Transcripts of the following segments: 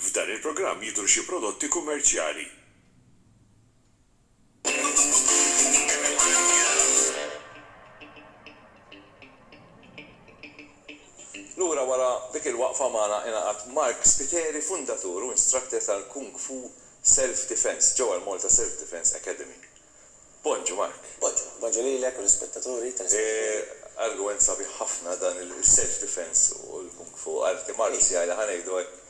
F'dan il-programm jidhru xi prodotti kummerċjali. Lura wara dik il-waqfa magħna ingħaqad Mark Spiteri, fundatur u instructor tal-Kung Fu Self Defense ġewwa l-Malta Self Defense Academy. Bonġu Mark. Bonġu. Bonġu lilek u l-ispettaturi telespettaturi. Argument sabiħ ħafna dan il-self defense u l-kung fu, arti marzjali ħa ngħidu hekk,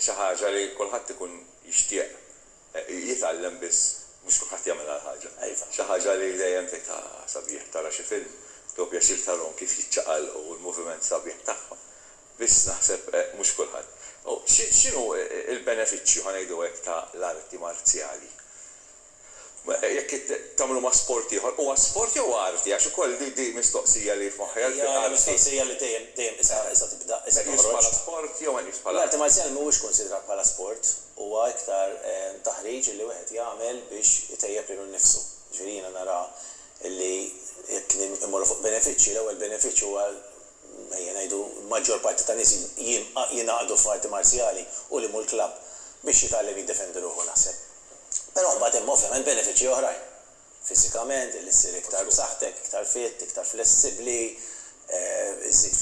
xi ħaġa li kulħadd ikun jixtieq jitgħallem biss mhux kulħadd jagħmilha l-ħaġa. Xi ħaġa li dejjem tgħid ah sabiħ tara xi film, tieħu pjaċir tarahom kif jiċċaqalqu u l-moviment sabiħ tagħhom. Biss naħseb mhux kulħadd. U x'inhu l-benefiċċju, ħa ngħidu hekk, ta' l-arti marzjali? Jekk tagħmlu ma' sport ieħor, huwa sport jew arti? Għax ukoll di hi mistoqsija li f'moħħi għalfejn arti. Hija mistoqsija li dejjem, dejjem qisha, qisha tibda, qisha toħroġ. Meqjus bħala sport jew meqjus bħala arti? L-arti marzjali mhuwiex kunsidrat bħala sport, huwa iktar taħriġ li wieħed jagħmel biex itejjeb lilu nnifsu. Jiġifieri jiena nara li jekk immorru fuq benefiċċji, l-ewwel benefiċċju huwa ejja ngħidu, l-maġġor parti ta' nies jingħaqdu f'arti marzjali u li mhu l-klabb biex jitgħallem jiddefendi ruħu naħseb. Però mbagħad hemm ovvjament benefiċċji oħrajn. Fiżikament, li ssir iktar b'saħħtek, iktar fit, iktar flessibbli, iżżid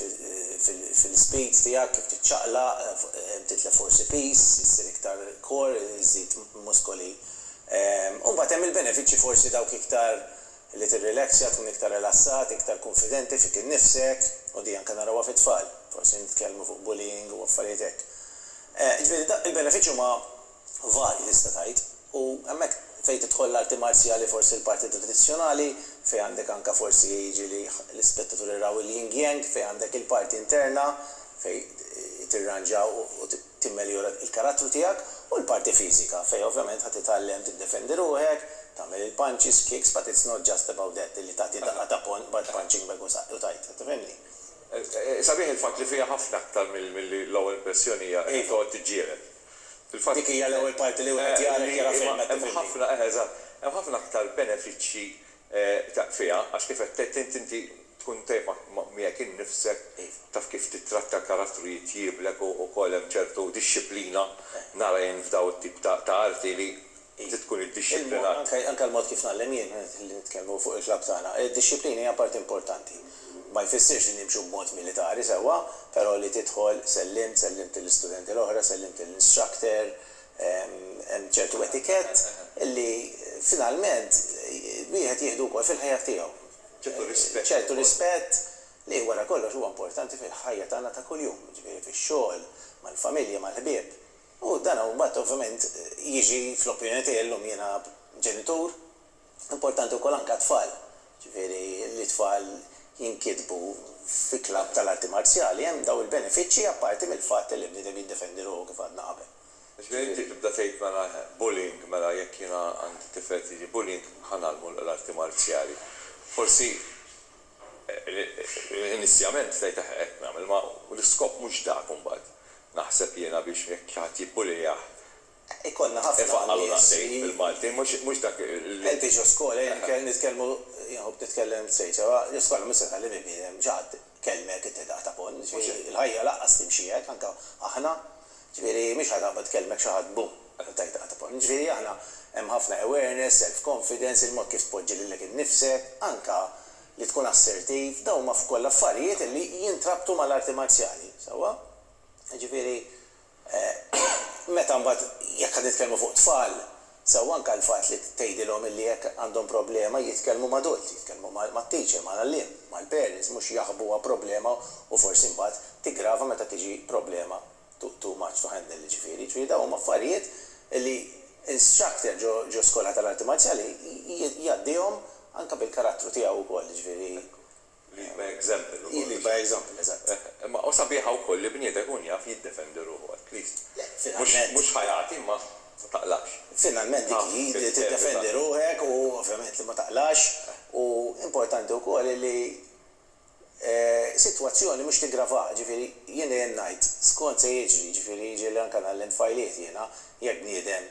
fil-speed tiegħek kif tiċċaqlaq, titlef forsi piż, issir iktar core, iżżid muskoli. U mbagħad hemm il-benefiċċji forsi dawk iktar li tirrilaxxja, tkun iktar rilassat, iktar kunfidenti fik innifsek, u di anke narawha fit-tfal, forsi nitkellmu fuq bullying u affarijiet hekk. Ġifieri da il-benefiċċju huma varji tista' tgħid, u hemmhekk fejn tidħol l-arti marzjali forsi l-parti tradizzjonali, fejn għandek anke forsi jiġi li l-ispettaturi jraw il-yin-yang fejn għandek il-parti interna fejn tirranġa u timmeljora l-karattru tiegħek, u l-parti fiżika, fejn ovvjament ħa titgħallem tiddefendi ruħek, tagħmel il-punches, kicks, but it's not just about that, illi tagħti daqqa ta' punching bag u tgħid, tifhimni? Sabiħ il-fatt li fiha ħafna aktar milli l-ewwel impressjoni hija li toqgħod tiġġieled. Il-fatt. Dik hija l-ewwel parti li wieħed jara jekk jara film, qed tifhimni? Hemm ħafna, eħe, eżatt. Hemm ħafna aktar benefiċċji Taf fiha, għax kif qed tgħid int, inti tkun tajjeb ma' miegħek innifsek, taf kif tittratta l-karattru jitjieblek u wkoll hemm ċertu dixxiplina, nara jien f'dawn it-tip ta' arti li trid tkun iddixxiplinat. Anke l-mod kif ngħallem jien, li nitkellmu fuq il-klabb tagħna, id-dixxiplina hija parti importanti. Ma jfissirx li nimxu b'mod militari sewwa, però li tidħol, sellimt, sellimt lill-istudenti l-oħra, sellimt lill-instructor, Hemm ċertu etikett li finalment wieħed jieħdu wkoll fil-ħajja tiegħu. Ċertu rispett. Ċertu rispett li wara kollox huwa importanti fil-ħajja tagħna ta' kuljum, jiġifieri fix-xogħol, mal-familja, mal-ħbieb. U dan mbagħad ovvjament jiġi, fl-opinjoni tiegħi llum jiena ġenitur, Importanti wkoll anke għat-tfal, jiġifieri li t-tfal jinkitbu fi klabb tal-arti marzjali hemm dawn il-benefiċċji apparti mill-fatt li bniedem jiddefendi ruħu kif għadna qabel. Ġifieri inti tibda tgħid mela eħe, bullying, mela jekk jiena għandi tifel qed jiġi bullying ħa ngħallmu l-arti marzjali. Forsi inizjament tgħid eħe hekk nagħmel, imma l-iskop mhux dak imbagħad naħseb jiena biex jekk xi ħadd jibbulijah Ikollna ħafna nies li. Helpi ġo skola, jien nitkellmu, jien nħobb nitkellem straight, sewa ġo skola miss iħalli minn bniedem, mhux ħadd ikellmek inti daqq ta' ponn, jiġifieri il-ħajja lanqas timxi hekk, anke aħna, jiġifieri mhix ħa taqbad tkellmek xi ħadd bum, u tgħid daqqa ta' ponn. Jiġifieri aħna hemm ħafna awareness, self confidence, il-mod kif tpoġġi lilek innifsek, anke li tkun assertiv, dawn huma kollha affarijiet li jintrabtu mal-arti marzjali, sewwa? Jiġifieri Meta mbagħad jekk qed nitkellmu fuq tfal, sew anke l-fatt li tgħidilhom illi jekk għandhom problema jitkellmu m'adult, jitkellmu mat-teacher, mal-għalliem, mal-parents, mhux jaħbuha problema u forsi mbagħad tiggrava meta tiġi problema too much to handle jiġifieri. Jiġifieri dawn huma affarijiet li instructor ġo skola tal-arti marċjali jgħaddihom anke bil-karattru tiegħu wkoll jiġifieri Lead by example ukoll. Hi lead by example, eżatt. Imma hu sabiħa wkoll li bniedem ikun jaf jiddefendi ruħu at least. Le, finalment. Mhux ħa jagħti imma ma taqlax. Finalment dik hi, li tiddefendi ruħek u ovvjament li ma taqlax u importanti wkoll li sitwazzjoni mhux tiggravah. Ġifieri jien dejjem ngħid skont se jiġri, ġifieri jiġri li anke ngħallem tfajliet jiena jekk bniedem,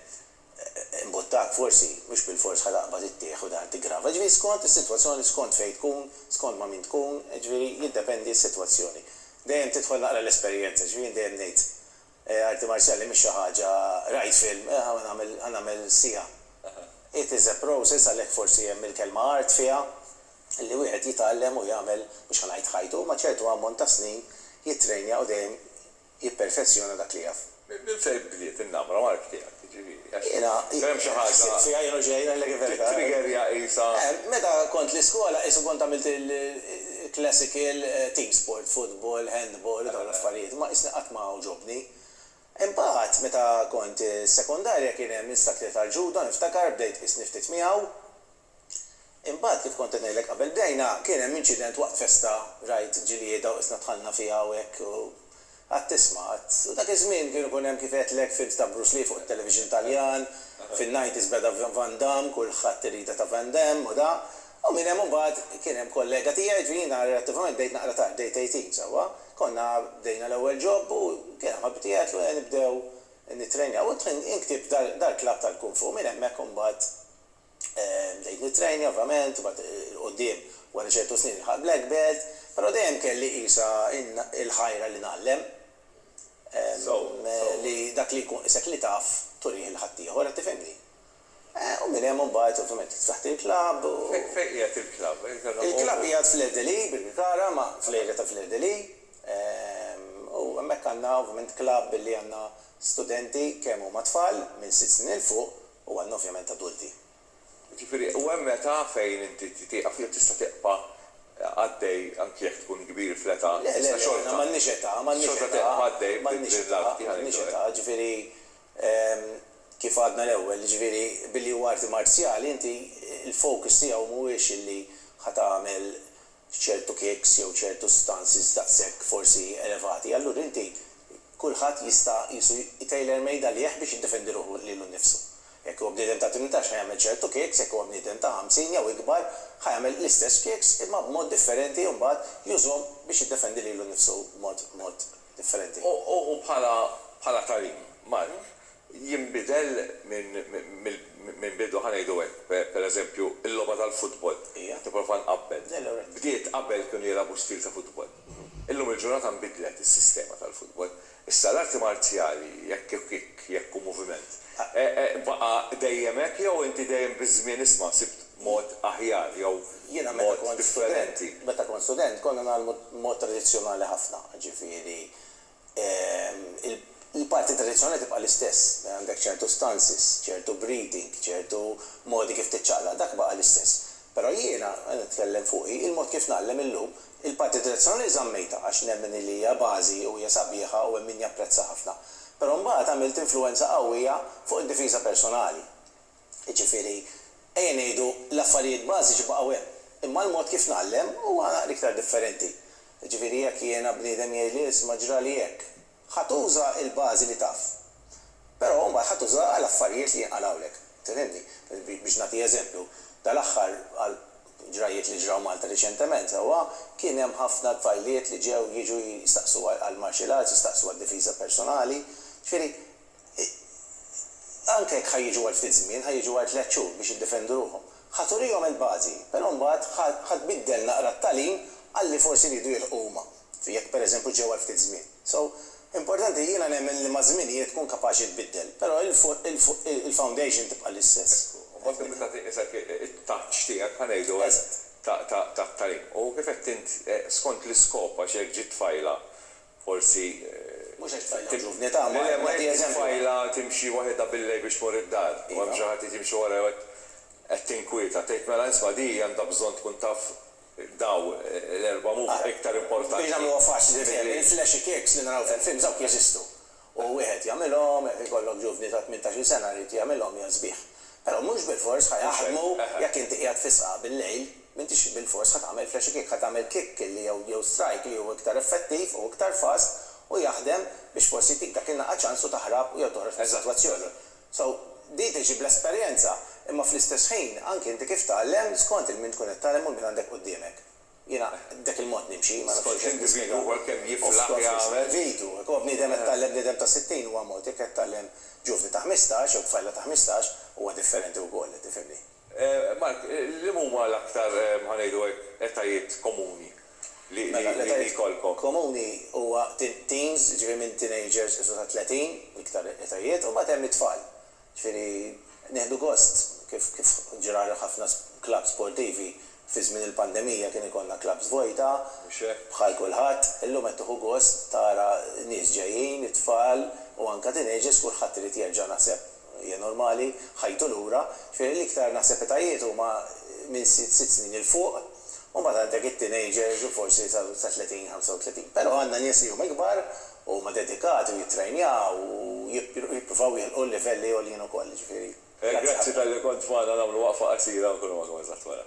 imbuttak forsi, mhux bilfors ħa taqbad it-tieħ u dan tiggrava. Jiġifieri skont is-sitwazzjoni, skont fejn tkun, skont ma' min tkun, jiġifieri jiddependi s-sitwazzjoni. Dejjem tidħol naqra l-esperjenza, jiġifieri jien dejjem ngħid arti marzjali mhix xi ħaġa rajt film, eh ħa nagħmel ħa nagħmel siegħa. It is a process għalhekk forsi hemm il-kelma art fiha li wieħed jitgħallem u jagħmel mhux ħa ngħid ħajtu, imma ċertu ammont ta' snin jittrejnja u dejjem jipperfezzjona dak li jaf. Minn fejn bdiet in-namra mark tiegħek, jiġifieri? Għax hemm xi ħaġa. Jiena ħsibt fiha jien u ġej ngħidlek il-verità. Tittriggerja qisha. Meta kont l-iskola qisu kont għamilt il-classical team sport, futbol, handball u dawn l-affarijiet, imma qisni qatt ma għoġobni. Imbagħad meta kont is-sekondarja kien hemm Instakli tal-Ġuda niftakar bdejt qisni ftit miegħu. Imbagħad kif kont qed ngħidlek qabel bdejna kien hemm inċident waqt festa rajt ġlieda u qisna dħalna fiha hawnhekk u qatt tisma' qatt u dak iż-żmien kienu jkun hemm kif għedtlek films ta' Bruce Lee fuq it-television Taljan fin-nineties beda Van Damme kulħadd irida ta' Van Damme u da u minn hemm imbagħad kien hemm kollega tiegħi jiġifieri jiena relattivament bdejt naqra tard bdejt eighteen sewwa konna bdejna l-ewwel job u kien hemm ħabib tiegħi għedtlu ejja nibdew nittrejnjaw u inktib dar-club tal-kung fu minn hemmhekk imbagħad Bdejt nittrejna ovvjament, u mbagħad 'il quddiem wara ċertu snin ilħaqt black belt, però dejjem kelli qisha l-ħajra li ngħallem, li dak li jkun qisek li taf turih lil ħaddieħor, qed tifhimni? U minn hemm mbagħad ovvjament ftaħt il-klabb u. Fejn qiegħed il-klabb? Il-klabb qiegħed fl-Erdely, Birkirkara, ma' fl-area ta' fl-Erdely, u hemmhekk għandna ovvjament klabb li għandna studenti kemm huma tfal minn sitt snin 'il fuq u għandna ovvjament adulti. Jiġifieri u hemm età fejn inti tieqaf jew tista' tibqa' għaddej anki jekk tkun kbir fl-età iżda xorta, xorta tieqaf għaddej b'din l-art li ħa ngħidu hekk. Jiġifieri kif għadna l-ewwel, jiġifieri billi huwa arti marzjali inti l-focus tiegħu mhuwiex illi ħa tagħmel f'ċertu kicks jew ċertu stances daqshekk forsi elevati, allura inti kulħadd jista' qisu j-tailor made għalih biex jiddefendi ruħu lilu nnifsu. Jekk huwa bniedem ta' tmintax ħa jagħmel ċertu kicks, jekk huwa bniedem ta' ħamsin jew ikbar ħa jagħmel l-istess kicks imma b'mod differenti u mbagħad jużhom biex jiddefendi lilu nnifsu b'mod differenti. U bħala bħala tagħlim, Mark, jinbidel minn bidu, ħa ngħidu hekk, per eżempju, il-logħba tal-futbol. Qiegħed nipprova nqabbel. Bdiet qabel kienu jilagħbu stil ta' futbol. Illum il-ġurnata nbidlet is-sistema tal-futbol. Issa l-arti marzjali, jekk hu kick, jekk hu moviment, baqa' dejjem hekk jew inti dejjem biż-żmien isma' sibt mod aħjar jew mod differenti? Jiena meta kont student, meta kont student konna ngħallmu mod tradizzjonali ħafna, jiġifieri il-parti tradizzjonali tibqa' l-istess, għandek ċertu stances, ċertu breathing, ċertu modi kif tiċċaqlaq, dak baqa' l-istess. Però jiena, qed nitkellem fuqi, il-mod kif ngħallem illum, il-parti tradizzjonali żammejtha għax nemmen illi hija bażi u hija sabiħa u hemm min japprezza ħafna. Però mbagħad għamilt influwenza qawwija fuq id-difiża personali. Jiġifieri, ejja ngħidu, l-affarijiet bażiċi baqgħu hemm, imma l-mod kif ngħallem huwa l-iktar differenti. Jiġifieri, jekk jiena bniedem jgħidli, isma' ġrali hekk, ħa tuża l-bażi li taf. Però mbagħad ħa tuża għall-affarijiet li jinqalgħulek. Tifhimni? Biex nagħti eżempju, dal-aħħar għal ġrajjiet li ġraw Malta riċentement sewwa, kien hemm ħafna tfajliet li ġew jiġu jistaqsu għall-martial arts, jistaqsu għad-difiża personali. Jiġifieri, Anke jekk ħa jiġu għal ftit żmien, ħa jiġu għal tliet xhur biex jiddefendu ruħhom. Ħa turihom il-bażi, però mbagħad ħa ħa tbiddel naqra t-tagħlim għalli forsi riedu jilħqu huma, jekk pereżempju ġew għal ftit żmien. So, importanti, jiena nemmen li maż-żmien hi tkun kapaċi tbiddel, però il fuq il fuq il-foundation tibqa' l-istess. Hekk hu. U mbagħad tibda tagħti isek it-touch tiegħek, ħa ngħidu hekk, ta' ta' ta' tagħlim. U kif għedt int, skont l-iskop għax jekk ġiet tfajla, Forsi t-tfajla timxi waħidha bil-lejl biex tmur id-dar u hemm xi ħadd irid jimxi warajha u qed tinkwieta. Tgħid, mela isma' di għandha bżonn tkun taf daw l-erba' huma iktar importanti milli. Ara, biex nagħmluha faċli, il-flexi kicks li naraw fil-films dawk jeżistu. u wieħed jagħmilhom, jekk ikollok ġuvni ta' tmintax-il sena jrid jagħmilhom hija sbieħ. Però mhux bilfors ħa jaħdmu jekk inti qiegħed fis-sqaq bil-lejl, m'intix bilfors ħa tagħmel flashy kick, ħa tagħmel kick li jew jew strike li hu iktar effettiv u iktar fast u jaħdem biex forsi jtik dak in-naqqa ċans u taħrab jew toħroġ mis-sitwazzjoni. So, din tiġi bl-esperjenza, imma fl-istess ħin anki inti kif tgħallem skont il-min tkun qed tgħallem u l-min għandek qudiemek. Jiena b'dak il-mod nimxi, ma nafx kif nispjega. Skont l-individwu huwa kemm jiflaħ jagħmel. Skont l-individwu. Jekk huwa bniedem qed tgħallem bniedem ta' 60 huwa mod, jekk qed tgħallem ġuvni ta' ħmistax jew tfajla ta' ħmistax huwa differenti wkoll, qed tifhimni. Mark, liema huma l-aktar, ħa ngħidu hekk, etajiet komuni li jkollkom? Mela, l-etajiet komuni huwa teens, jiġifieri minn teenagers sa 30, l-iktar etajiet, u mbagħad hemm it-tfal. Ġifieri nieħdu gost kif kif ġra li ħafna clubs sportivi fi żmien il-pandemija kien ikollna clubs vojta, bħal kulħadd, illum qed tieħu gost tara nies ġejjin, it-tfal u anke teenagers kulħadd irid jerġa' naħseb hija normali, ħajtu lura. Ġifieri l-iktar naħseb etajiet huma minn sitt snin 'il fuq u mbagħad għandek it-teenagers u forsi sa 30, 35. Però għandna nies li huma ikbar Huma dedikati u jittrejnjaw u jippruvaw jilħqu livelli għoljin ukoll, jiġifieri grazzi ħafna. Grazzi talli kont magħna nagħmlu waqfa qasira u nkunu magħkom eżatt wara.